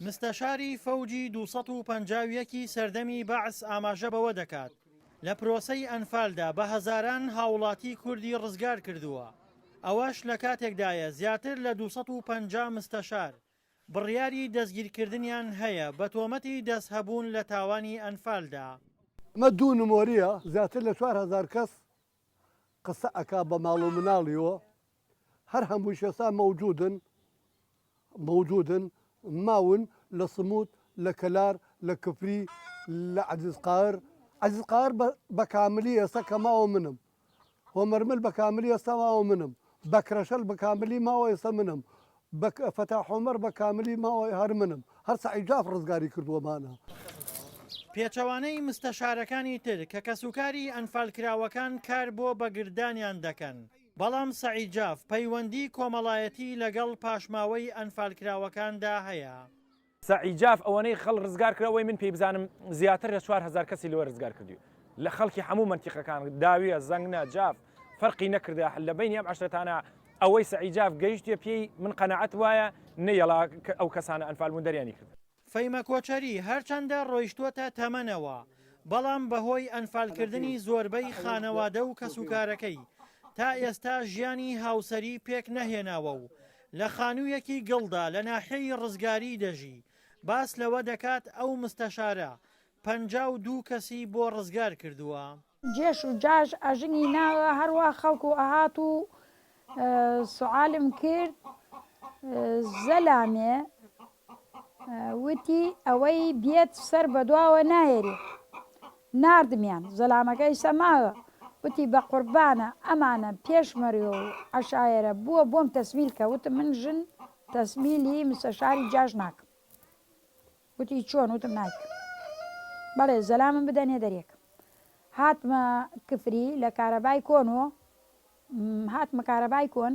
مستەشاری فەوجی دوو سەد و پەنجا و یەک ی سەردەمی بەعس ئاماژە بەوە دەکات، لە پرۆسەی ئەنفالدا بە هەزاران هاوڵاتی کوردی ڕزگار کردووە، ئەوەش لە کاتێکدایە زیاتر لە دوو سەد و پەنجا مستەشار بڕیاری دەستگیرکردنیان هەیە بە تۆمەتی دەستهەبوون لە تاوانی ئەنفالدا. ئەمە دوو نمۆریە زیاتر لە چوار هەزار کەس قسە ئەکا بە ماڵ و مناڵیوە هەر هەمووش ئێستا مەوجودن مەوجودن ماون لە سموت لە کەلار لە کفری لە عزیز قار عزیز قار بە کاملی ئێستا کە ماوە منم هۆمەرمل بە کاملی ئێستا ماوە منم بەکرەشەل بە کاملی ماوە ئێستا منم بە فتاح عمر بە کاملی ماوە هەر منم هەر سەعید جاف ڕزگاری کردووە مانە. پێچەوانەی مستەشارەکانی تر کە کەسوکاری ئەنفالکراوەکان کار بۆ بەگرددانیان دەکەن، بەڵام سەعید جاف پەیوەندی کۆمەڵایەتی لەگەڵ پاشماوەی ئەنفالکراوەکاندا هەیە. سەعی جاف ئەوەنەی خەڵ رزگار کرا وەی من پێی بزانم زیاتر لە چوار هەزار کەسی لەوە رزگار کردووی لە خەڵکی حەموو مەنتیقەکان داویە زەنگنە جاف فەرقی نەکردە حل لە بینی ئەم عەشرەتانە ئەوەی سەعی جاف گەیشتە پێی من قەناعەت وایە نەیەڵا ئەو کەسانە ئەنفال بوون دەریانی کرد. فەیمە کۆچەری هەرچەندە رۆیشتووەتە تەمەنەوە بەڵام بەهۆی ئەنفال کردنی زۆربەی خانەوادە و کەسوکارەکەی تا ئێستا ژیانی هاوسەری پێک نەهێناوە و لە خانوویەکی گڵدا لە ناحیەی ڕزگاری دەژی، باس لەوە دەکات ئەو مستەشارە پەنجا و دوو کەسی بۆ ڕزگار کردووە. جێش و جاش ئەژنی ناوە هەروا خەڵک و ئەهات و سوعالم کرد زەلامێ وتی، ئەوەی بێت سەر بە دواوە نایەری. ناردمیان. زەلامەکە ئیستا ماوە. وتی، بە قوربانە، ئەمانە، پێشمەرگە و عەشایەرە، بووە بۆم تەسمیل کە. وتم، من ژن تەسمیلی مستەشاری جاش ناکەم. وتی، چۆن؟ وتم، نایکەم. بەڵێ، زەلامم بدەنێ دەرێک. هاتمە کفری لە کارەبای کۆن و هاتمە کارەبای کۆن.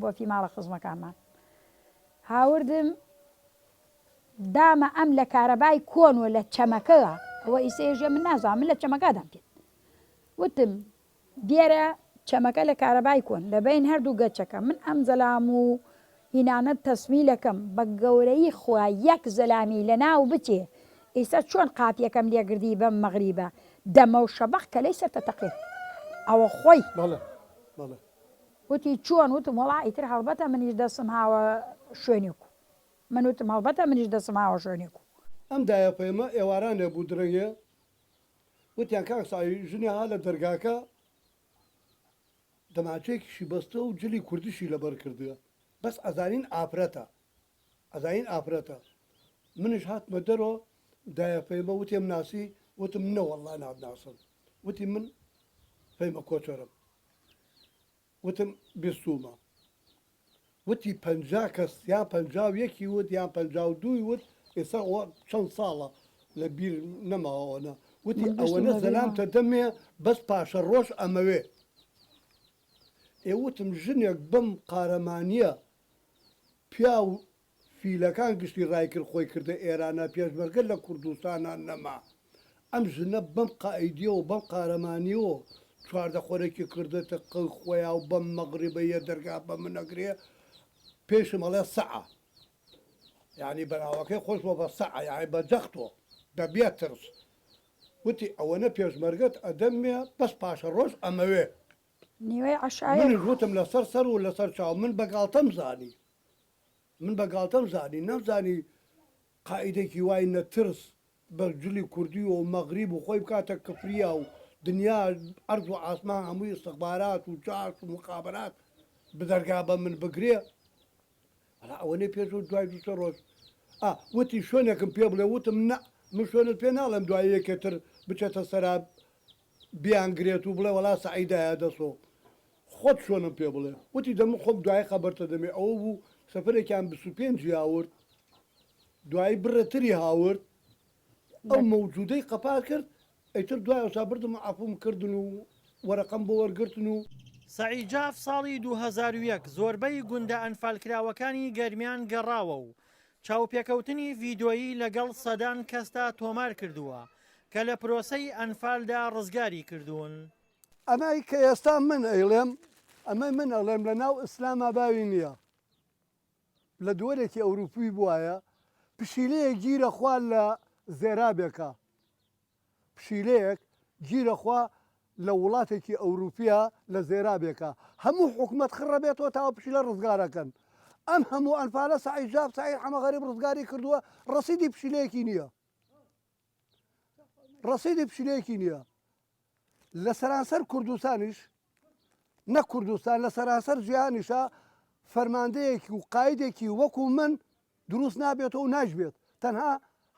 بۆتی ماڵە خزمەکانمان هاوردم دامە ئەم لە کارەبای کۆن و لە چەمەکەوە ئەوە ئیسێژە من نازان من لە چەمەکەدام کرد وتم دیێرە چەمەکە لە کارەبای کۆن لە بین هەردوو گەچەکە من ئەم زەلام و هینانە تەسمیلەکەم بە گەورەی خوا یەک زەلامی لە ناو بچێ ئیستا چۆن قاپیەکەم لێگردی بەم مەغریبە دەمە و شەبق کە لەی سەرتە تەقێ ئەوە خۆی بەڵێ بەڵێ وتی چۆن؟ وتم وەڵا ئیتر هەڵبەتە منیش دەستم هاوە شوێنێک و. من وتم هەڵبەتە منیش دەستم هاوە شوێنێک و. ئەم دایەپەیمە ئێوارانێ بوو درەنگێ، وتیان کاک سەعی ژنی ها لە دەرگاکە دەماچەیەکیشی بەستووە و جلی کوردیشی لەبەر کردووە، بەس ئەزانین ئافرەتە، ئەزانین ئافرەتە. منیش هاتمە دەرۆ، دایەپەیمە وتی ئەمناسی؟ وتم نەوەڵلا نامناسم. وتی من فەیمە کۆچەرم. وتم بیستوومە. وتی پەنجا کەس یان پەنجا و یەکی وت یان پەنجا و دووی وت، ئێستا ئەوە چەند ساڵە لە بیر نەماوە ئەوەنە. وتی ئەوەنە زەلامتە دەمێ بەس پاشەڕۆژ ئەمەوێ. ئێ وتم ژنێک بەم قارەمانییە پیاو فیلەکان گشتی ڕای کرد خۆی کردە ئێرانە پێشمەرگە لە کوردستانا نەما ئەم ژنە بەم قائیدیەوە بەم قارەمانیەوە چواردە خۆرەکی کردۆتە قەی خۆیا و بەم مەغریبە یە دەرگا بە من ئەگرێ پێیشم ئەڵێ سەعە یانی بەناوەکەی خۆش بۆ بە سەعە یانی بە جەختۆ بە بێ ترس وتی ئەوەنە پێشمەرگەت ئەدەمێ بەس پاشە ڕۆژ ئەمەوێ نیوەی عەشایە منیش وتم لەسەر سەر و لەسەر چاو من بە گاڵتەم زانی. من بە گاڵتەم زانی نەمزانی قائیدێکی وای نە ترس بە جلی کوردی و مەغریب و خۆی بکاتە کفریا و دنیا عەرز و عاسمان هەمووی استخبارات و جاش و مخابرات بدەرگا بە من بگرێ ئەڵا ئەوەنەی پێش و دوای دوو سێ ڕۆژ ئا وتی شوێنێکم پێ بڵێ وتم نە من شوێنت پێ ناڵێم دوای یەکێتر بچێتە سەرا بیانگرێت و بڵێ وەڵا سەعی دایە دەسۆ خۆت چۆنم پێ بڵێ وتی دەموو خۆم دوای خەبەرتە دەمێ ئەوە بوو سەفەرێکیان بیست و پێنج ی هاورد دوایی بڕێ تری هاورد ئەو مەوجودەی قەپات کرد ئەیتر دوای ئەوسا بردم و عەفووم کردن و وەرەقەم بۆ وەرگرتن و سەعی جاف ساڵی دوو هەزار و یەک زۆربەی گوندە ئەنفالکراوەکانی گەرمیان گەڕاوە و چاوپێکەوتنی ڤیدۆیی لەگەڵ سەدان کەسدا تۆمار کردووە کە لە پرۆسەی ئەنفالدا ڕزگاری کردوون. ئەمەی کە ئێستا من ئەیڵێم ئەمەی من ئەڵێم لە ناو ئیسلاما باوی نیە لە دوەرێکی ئەوروپی بوایە پشیلەیەک گیرە خوا لە زێرابێکا پشیلەیەک گیرە خوا لە وڵاتێکی ئەوروپیا لە زێرابێکا هەموو حکومەت خڕە بێتەوە تا ئەو پشیلە ڕزگارەکەن ئەم هەموو ئەنفالە سەعید ژاب سەعید حەمە غەریب ڕزگاری کردووە ڕەسیدی پشیلەیەکی نییە ڕەسیدی پشیلەیەکی نییە لە سەرانسەر کوردستانیش نە کوردستان لە سەرانسەر جیهانیشە فەرماندەیەکی و قایدێکی وەکو من دروست نابێتەوە و ناشبێت، تەنها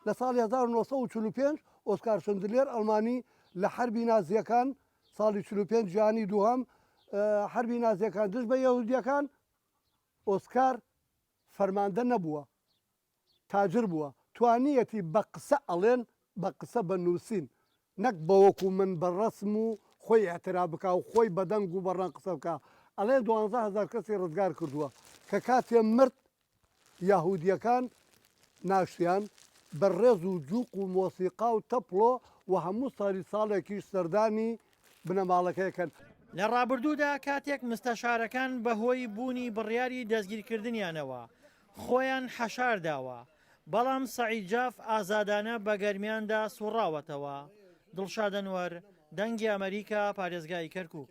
لە ساڵی هەزار و نۆ سەد و چل و پێنج ئۆسکار شندلێر ئەڵمانی لە حەربی نازییەکان، ساڵی چل و پێنج جیهانی دووهەم، حەربی نازییەکان دژ بە یەهودییەکان، ئۆسکار فەرماندە نەبووە، تاجر بووە، توانییەتی بە قسە ئەڵێن، بە قسە بە نووسین، نەک بە وەکو من بە ڕەسم و خۆی ئیعتراف بکا و خۆی بە دەنگ و بە ڕەنگ قسە بکا، ئەڵێن دوانزە هەزار کەسی ڕزگار کردووە، کە کاتێ مرد یەهودیەکان ناشتیان بە ڕێز و جوق و مۆسیقا و تەپڵۆ و هەموو سالی ساڵێکیش سەردانی بنەماڵەکەی ئەکەن. لە ڕابردوودا کاتێک مستەشارەکان بە هۆی بوونی بڕیاری دەستگیرکردنیانەوە خۆیان حەشارداوە، بەڵام سەعید جاف ئازادانە بە گەرمیاندا سوڕاوەتەوە. دڵشاد ئەنوەر، دەنگی ئەمەریکا، پارێزگای کەرکوک.